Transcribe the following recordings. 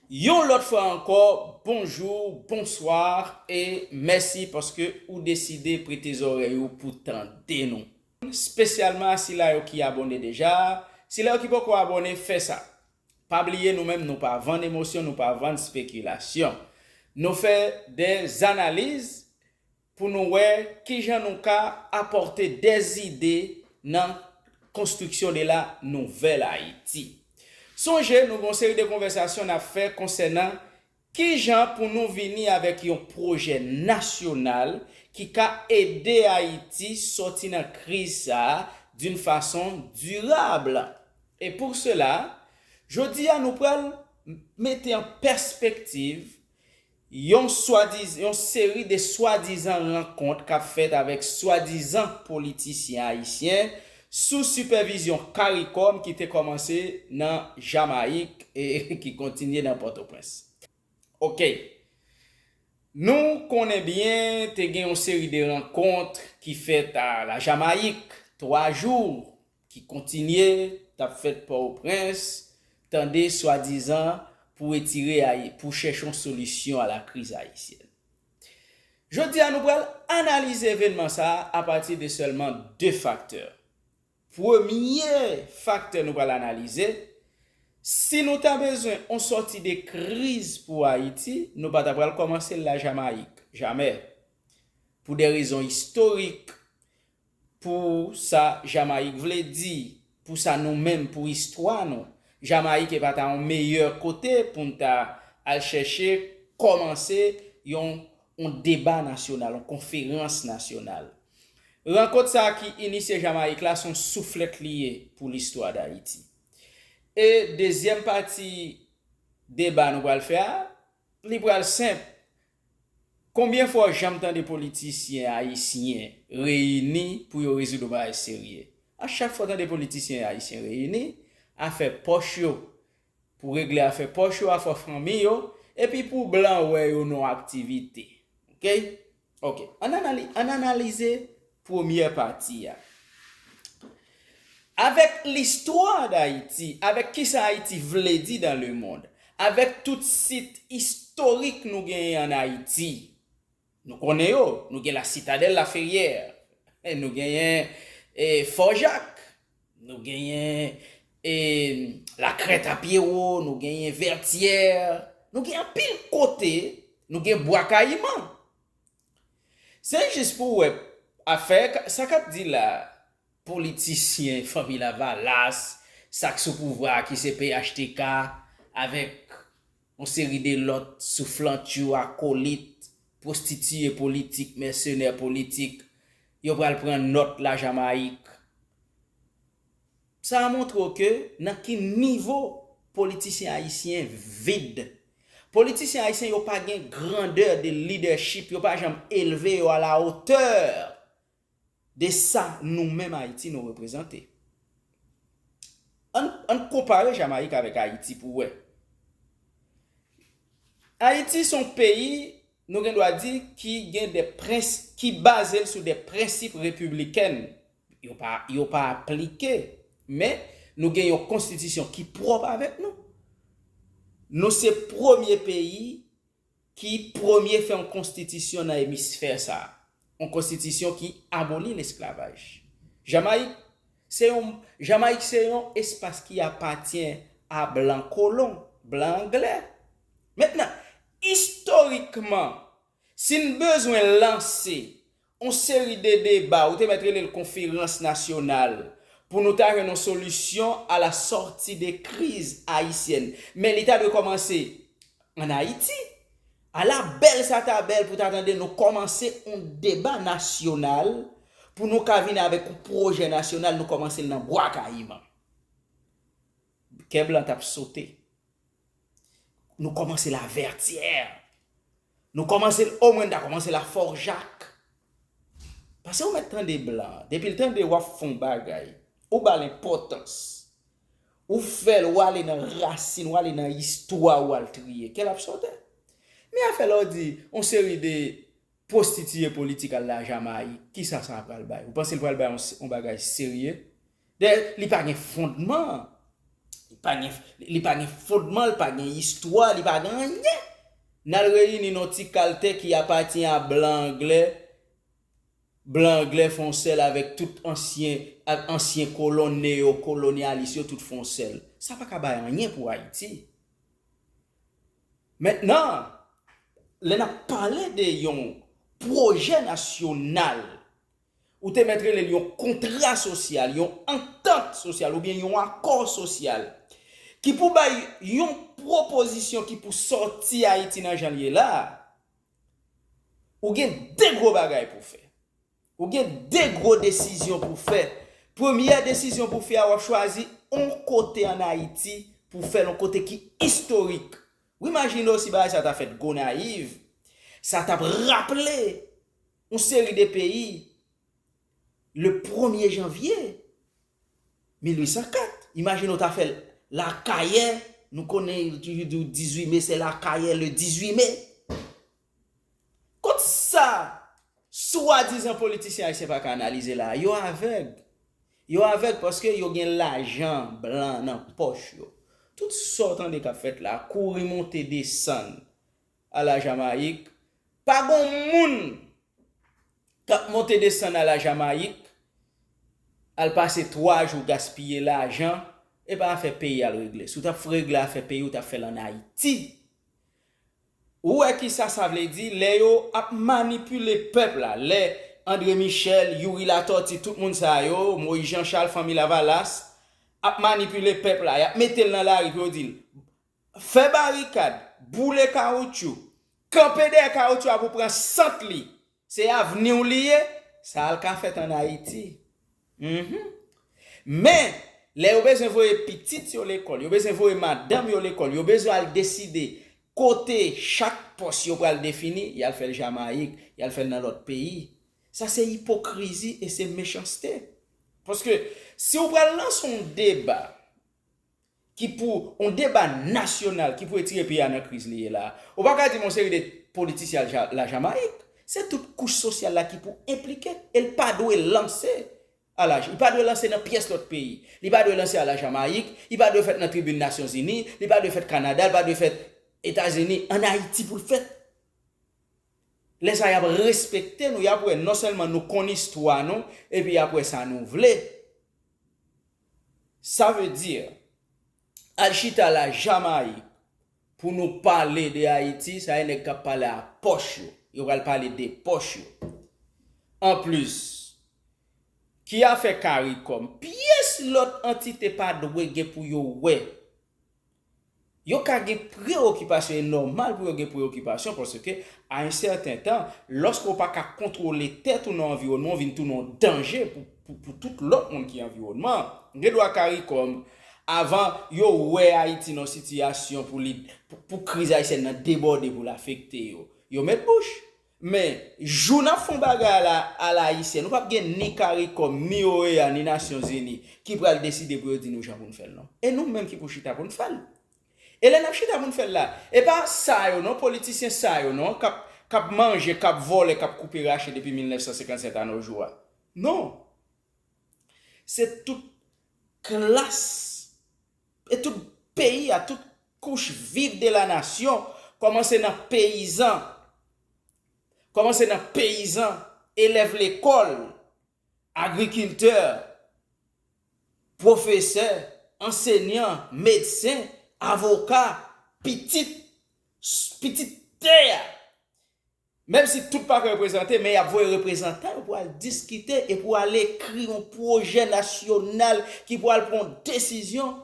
Yon lòt fwa ankò bonjou, bonsoir e mèsi paske ou deside prete zòrèy ou pou tande nou. Spesyalman a sila yo ki abòne deja, sila yo ki poko abòne fè sa. Pa bliye nou menm nou pa vann emosyon nou pa vann spekilasyon. Nou fè de analiz pou nou wè kijan nou ka apòte de zide nan konstriksyon de la nouvèl Ayiti. Sonje nou gen yon seri de konvèsasyon n ap fè konsènan kijan pou nou vini avèk yon pwojè nasyonal ki ka ede Ayiti sòti nan kriz sa a d'un fason dirab. E pou sela, jodi a nou pral mete an pèspektiv Yon swadiz yon seri de swadizan rankont k ap fèt avèk swadizan politisyen ayisyen sou sipèvizyon caricom ki te kòmanse nan Jamayik e ki kontinye nan Pòtoprens. Ok. Nou konnen byen te gen yon seri de rankont ki fèt a la Jamayik, twa jou. ki kontinye tap fèt Pòoprens, tande swadizan pou etire Ayi, pou chèche yon solisyon a la kriz ayisyèn. Jodi a nou pral analize evenman sa a apati de sèlman 2 faktè. Premye faktè nou pral analize, si nou ta bezwen yon sòti de kriz pou Ayiti, nou pa ta pral kòmanse l la Jamayik, jamè. Pou de rezon istorik, Pou sa Jamayik vle di, pou sa nou menm, pou istwa nou, Jamayik e pa ta yon meyè kote pou n ta al chèche kòmanse yon yon deba nasyonal, yon konferans nasyonal. Rankont sa ki inisye Jamayik la, son souflèt li ye pou listwa Dayiti. E dezyèm pati deba nou pral fè a, li pral senp, Konbyen fwa w janm tande politisyen ayisyen reyini pou yo rezoud yon bagay serye? A chak fwa w tande politisyen ayisyen reyini, afè pòch yo, pou regle afè pòch yo, afè fanmi yo, epi pou blan wè yo nan yon aktivite. Ok. Ok. Ann analize Premyè pati a. Avèk listwa Dayiti, avèk kisa Ayiti vle di dan lemond, avèk tout sit istorik nou genyen ann Ayiti. Nou konnen yo, nou gen la Sitadèl Laferyè, nou genyen Fò Jak, nou genyen la Krèt a Pyewo, nou genyen Vètyè, nou gen anpil kote, nou gen Bwa Kayiman, Se jis pou wè afè sa kap di la politisyen fanmi lavalas sak sou pouvwa a ki se phtk avèk yon seri de lòt souflantyou akolit pwostitiye politik mèsenè politik yo pral pran nòt la jamayik. Sa a montre w ke nan ki nivo politisyen ayisyen vid. Politisyen ayisyen yo pa gen grandeur de leadership, yo pa janm elve yo a la hauteur de sa nou menm Ayiti nou reprezante. Ann konpare Jamayik avèk Ayiti pou wè. Ayiti se yon peyi nou gen dwa di ki gen de prens, ki baze l sou de prensip republican Yo pa aplike, men nou gen yon konstitisyon ki pwòp avèk nou. Nou se premye peyi ki premye fè yon konstitisyon nan emisfè sa a. Yon konstitisyon ki aboli lesklavaj. Jamayik se yon espas ki apatyen a blan kolon, blan angle. Mentnan, istorikman, si n bezwen lanse On seri de deba, ou te mèt rele l konferans nasyonal, pou nou ta jwenn on solisyon a la sòti de kriz ayisyèn. Men li ta dwe kòmanse an Ayiti. Ala bèl sa ta bèl pou ta tande nou kòmanse on deba nasyonal pou nou ka vin avèk on pwojè nasyonal nou kòmanse l nan Bwa Kayiman. Kè blan t ap sote. Nou kòmanse Lavètyè. Nou kòmanse l omwen n ta kòmanse Lafòjak. Pase ou mèt tande blan an. Depi l tande w ap fè yon bagay, ou ba l enpòtans. Ou fè l, ou ale nan rasin, ou ale nan istwa ou al triye. Kè l ap sote. Men afè lè w di yon seri de pwostitiye politik al la Jamayik, kisa sa pral bay? Ou panse l pral bay yon bagay serye? Dayè li pa gen fondman, li pa gen, li pa gen fondman, li pa gen istwa, li pa gen anyen. N al reyini nan yon ti kal tè ki apati a blan anglè, blan anglè fè yon sèl avèk tout ansyen, ak ansyen kolon neyo kolonyalis yo tout fè yon sèl. Sa pa ka bay anyen pou Ayiti. Mentnan, lè n ap pale de yon pwojè nasyonal Ou te mèt rele l yon kontra sosyal, yon antant sosyal oubyen yon akò sosyal ki pou bay yon pwopozisyon ki pou sòti Ayiti nan jan l ye la a. Ou gen de gwo bagay pou w fè. Ou gen de gwo desizyon pou w fè. Premyè desizyon pou w fè a, w ap chwazi yon kote ann Ayiti pou w fè l, yon kote ki istorik. Ou imajine w si bagay sa a ta fèt Gonayiv, sa t ap raple. yon seri de peyi le premye janvye 1804. Imajine w ta fè l Lakayè, nou konnen yo toujou di w 18 me se Lakayè le 18 me. Kot sa swadizan politisyen ayisyen pa ka analize la a? Yo avèg. Yo avèg paske yo gen lajan blan nan pòch yo. Tout sa w tande k ap fèt la a, kouri monte desann, A la Jamayik, pa gon moun k ap monte desann a la Jamayik, al pase 3 jou gaspiye lajan, e pa afè peyi y al regle. Si w t ap regle afè peyi w, t ap fè l ann Ayiti. Ou wè ki sa sa vle di, lè yo ap manipile pèp la, lè André Michel, Youri Latortue, tout moun sa yo, Moïse Jean Charles, Fanmi Lavalas, ap manipile pèp la, y ap mete l nan lari pou yo di l, Fè barikad, boule kawoutchou, kanpe dèyè kawoutchou a pou pran sant li, se avni w li ye, sa al ka fèt an Ayiti. Mph. Men, lè yo bezwen voye pitit yo lekòl, yo bezwen voye madanm yo lekòl, yo bezwen al deside kote chak pòs yo pral defini, y al fè l Jamayik, y al fè l nan lòt peyi. Sa se ipokrizi e se mechanste. Paske, si w pral lanse yon deba ki pou yon deba nasyonal ki pou retire peyi a nan kriz li ye la a. Ou pa ka di m yon seri de politisyen al Lajamayik. Se tout kouch sosyal la ki pou enplike e l pa dwe lanse a la, li pa dwe lanse nan pyès lòt peyi. Li pa dwe lanse a Lajamayik, li pa dwe fèt nan tribin Nasyonzini, li pa dwe fèt Kanada, li pa dwe fèt Etazini. Ann Ayiti pou l fèt. Lè sa a y ap respekte nou, y ap wè non sèlman nou konn istwa nou epi y ap wè sa nou vle. Sa veut dire, al chita la Jamaïque pou nou pale de Haïti, sa e nèg kap pale a pòch yo, yo pral pale de pòch yo. En plus, ki afè caricom, pyès lòt antite pa dwe gen pou yo wè Yo ka gen prewokipasyon, e nòmal pou yo gen prewokipasyon paske a yon sèten tan, lòske ou pa ka kontwole tèt ou nan anviwònman, ou vin tounen yon danje pou tout lòt moun ki anviwònman an. Gen dwa caricom, avan yo wè Ayiti nan yon sitiyasyon pou li, pou kriz ayisyèn nan debòde pou l afekte yo, yo met bouch. Men, jou n ap fon bagay la alayisyen, nou pap gen ni caricom, ni OEA, ni Nasyon Zini ki pral deside pou yo di nou jan pou n fè l non. E nou menm ki pou chita pou n fè l. E lè n ap chita pou n fè l la, e pa sa yo non, politisyen sa yo non, k ap manje, k ap vòlè, k ap koupe rache depi 1957 a no jou a. Non. Se tout klas e tout peyi a, tout kouch viv de la nasyon, kòmanse nan peyizan, kòmanse nan peyizan, elèv lekòl, agrikiltè, pwofesè, ansenyan, medsen, avoka, pitit, pitit tè a. Menm si tout pa ka reprezante, men y ap voye reprezantan yo pou al diskite e pou al ekri yon pwojè nasyonal ki pou al pran yon desizyon.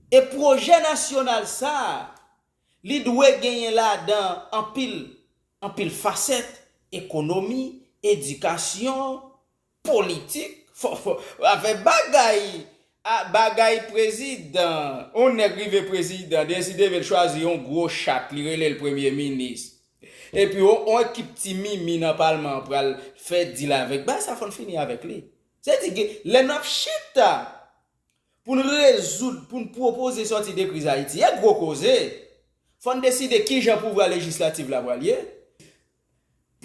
E pwojè nasyonal sa a, li dwe genyen ladan anpil, anpil fasèt, ekonomi, edikasyon, Politik fò a fè bagay a bagay prezidan yon nèg rive prezidan deside vil chwazi yon gwo chat li relel premye minis epi yon ekip ti mimi nan palman an pral fè dil avèk bagay sa fòn fini avèk li se di gen lè nap chita poun rezoud poun pwopoze sòti de kriz ayiti a gwo koze fòn deside kijan pouvwa lejislativ la pral ye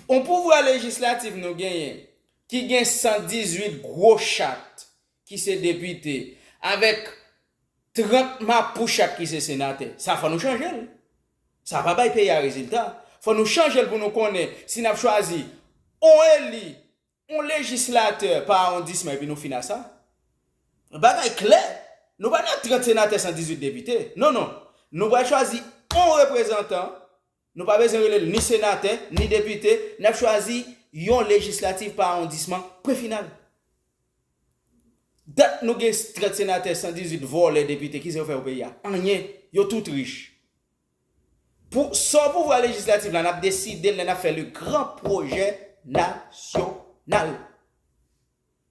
On pouvwa lejislatif nou genyen ki gen 118 gwo chat ki se depite avèk 30 mapou chat ki se senatè. Sa fò nou chanje l. Sa pa bay peyi a rezilta. Fò nou chanje l pou nou konnen si n ap chwazi on eli, on lejislatè pa awondisman epi nou fin a sa. Bagay klè, nou pa nan 30 senatè 118 depite. Non non. Nou pral chwazi on reprezantan Nou pa bezwen rele l ni senatè, ni depite, n ap chwazi yon lejislativ pa awondisman, pwen final. Dat nou gen trèt senatè, 118 vòlè depite, kisa yo fè pou peyi a? Anyen. Yo tout rich. Pou sò pouvwa lejislatif la, n ap deside l lè n ap fè le gran pwojè nasyonal.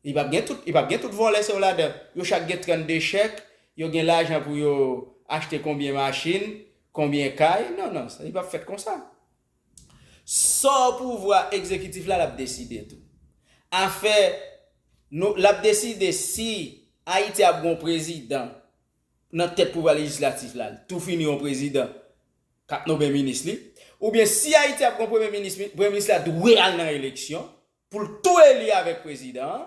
Li pap gen tout, li pap gen tout vòlè se yo ladan. Yo chak gen 32 chèk, yo gen lajan pou yo achte konbyen machin, konbyen kay, non non, li pap fèt konsa. Sò pouvwa egzekitif la l ap deside tou. Afè nou, l ap deside si Ayiti ap gen yon prezidan nan tèt pouvwa lejislatif la, tou fini yon prezidan k ap nonmen minis li, oubyen si Ayiti ap gen yon premye minis, premye minis la dwe al nan eleksyon, Pou l tou eli avèk prezidan an.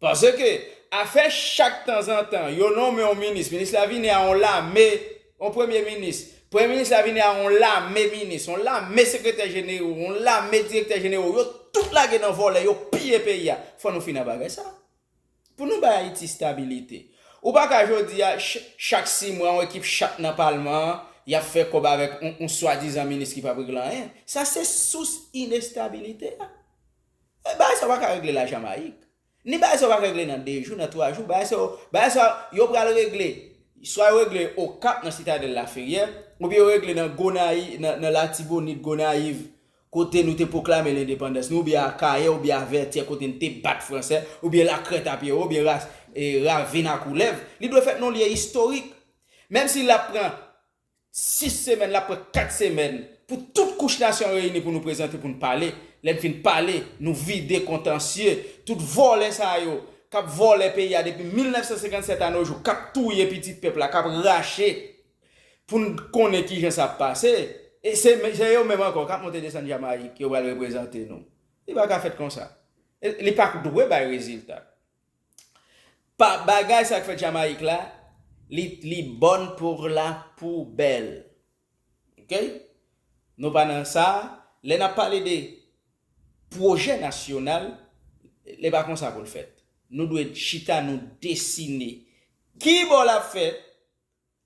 Paske, afè chak tanzantan yo nonmen yon minis, minis la vini a yon lame, yon premye minis, premye minis la vini a yon lame minis, yon lame sekretè jenewo, yon lame direktè jenewo, yo tout lage nan vòlè, yo piye peyi a. Fò nou fini a bagay sa a. Pou nou bay Ayiti stabilite. Ou pa ka jodi a, chak si mwa yon ekip chat nan palman an, y ap fè kòb avèk yon swadizan minis ki p ap regle anyen. Sa se sous inestabilite a. Bagay sa yo pa ka regle Lajamayik. Ni bagay sa yo pa ka regle nan 2 jou, nan 3 jou. Bagay sa yo, bagay sa yo pral regle, swa yo regle Okap nan Sitadèl Laferyè, oubyen yo regle nan Gonayiv, nan Latibonit, Gonayiv, kote nou te pwoklame lendepandans nou, oubyen Akayè, oubyen a Vètyè kote n te bat Franse, oubyen Lakrètapyewo, oubyen Ras, e Ravin a Koulèv, li dwe fèt nan yon lye istorik. Menm si l ap pran 6 semèn, l ap pran 4 semèn pou tout kouch nasyon an reyini pou nou prezante, pou n pale. Lè n fin pale, nou vide kontansye tout vòlè sa yo k ap vòlè peyi a depi 1957 anojou, k ap touye pitit pèp la, k ap rache Pou n konnen ki jan sa ap pase, e se se yo menm ankò k ap monte desann Jamayik yo pral reprezante nou. Li pa ka fèt konsa. E li pa dwe bay rezilta. Pa bagay sa k fèt Jamayik la, li li bòn pour la poubelle. Ok? Nou pa nan sa a. Lè n ap pale de pwojè nasyonal, li pa konsa pou l fèt. Nou dwe chita nou desine ki bò l ap fèt,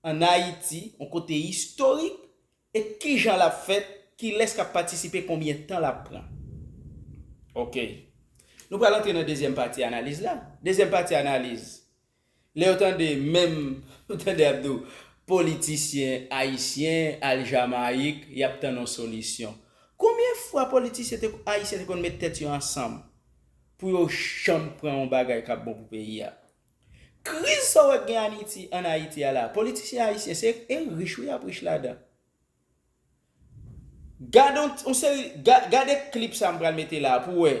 an Ayiti, yon kote istorik, e kijan l ap fèt, kilès k ap patisipe, konbyen tan l ap pran. Ok. Nou pral antre nan dezyèm pati analiz la. Dezyèm pati analiz, lè yo tande menm, ou tande y ap di w, politisyen ayisyen al Jamayik, y ap tann yon solisyon. Konbyen fwa politisyen te ayisyen te konn met tèt yo ansanm pou yo janm pran yon bagay k ap bon pou peyi a? Kriz sa w wè k gen aniti an Ayiti a la, politisyen ayisyen se e rich wi y ap rich ladan. Gad on on seri gad gade klip sa m pral mete la a pou w wè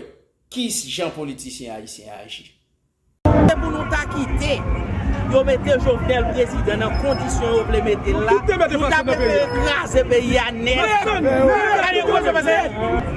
ki jan politisyen ayisyen aji. Se pou nou ta kite yo mete Jovenel prezidan nan kondisyon yo vle mete l la, nou ta prefere kraze peyi a nèt. Gade kòman yo fè.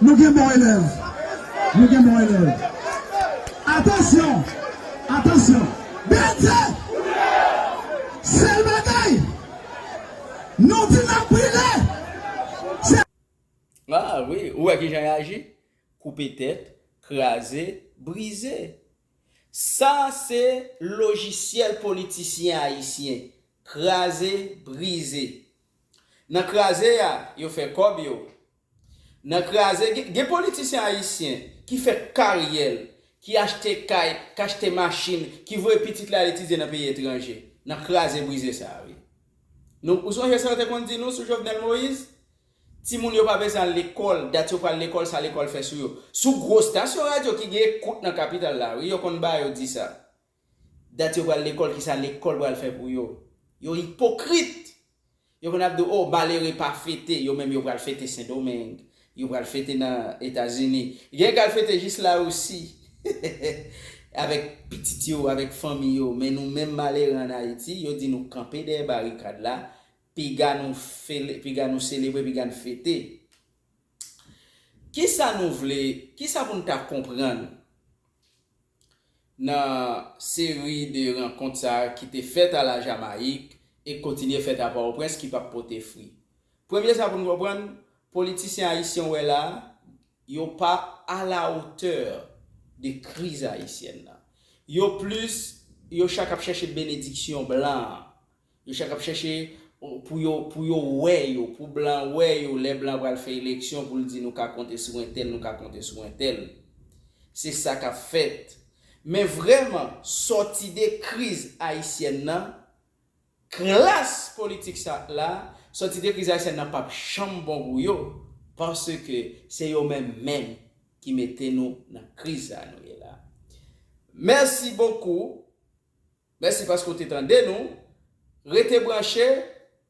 Nou gen bon elèv! Nou gen bon elèv! Atansyon! Atansyon! Bndye! Sèl bagay! Nou di n ap brile! Se. A wi! Ou wè kijan y aji? Koupe tèt, kraze, brize! Sa se lojisyèl politisyen ayisyen! Kraze, brize! Nan kraze a, yo fè kòb yo, Nan kraze gen gen politisyen ayisyen ki fè karyè l, ki achte kay, k achte machin, ki voye pitit li al etidye nan peyi etranje. Nan kraze brize sa a wi. Nou ou sonje sa yo te konn di nou sou Jovenel Moïse? Timoun yo pa bezwen al lekòl, dat yo pral lekòl sa lekòl fè sou yo. Sou gwo stasyon radyo ki gen ekout nan kapital la wi yo konn ba yo di sa. Dat yo pral lekòl kisa lekòl pral fè pou yo? Yo ipokrit! Yo konn ap di w oh malere pa fete, yo menm yo pral fete sendomeng, yo pral fete nan etazini, gen k al fete jis larisi avèk pitit yo, avèk fanmi yo men nou menm malere an ayiti yo di nou kanpe dèyè barikad la piga nou fele, piga nou selebre, piga n fete. Kisa nou vle, kisa pou n ta konprann? nan seri de rankont sa ki te fèt a la Jamayik e k kontinye fèt a Pòtoprens ki pap pote fri. Premye sa pou n konprann, politisyen ayisyen w wè la a, yo pa a la otè de kriz ayisyèn nan. Yo plis, yo chak ap chèche benediksyon blan an. Yo chak ap chèche pou yo pou yo wè yo, pou blan wè yo lè blan pral fè eleksyon pou l di nou ka konte sou entèl, nou ka konte sou entèl. Se sa k ap fèt. Men vrèman, sòti de kriz ayisyèn nan, klas politik sa la, sòti de kriz ayisyèn nan p ap janm bon pou yo, paske se yo menm menm ki mete nou nan kriz sa a nou ye la. Mèsi bokou. Mèsi paske w te tande nou. Rete branche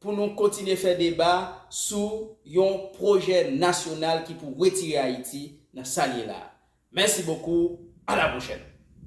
pou nou kontinye fè deba sou yon pwojè nasyonal ki pou retire Ayiti nan sa l ye la a. Mèsi bokou, a la pwochèn!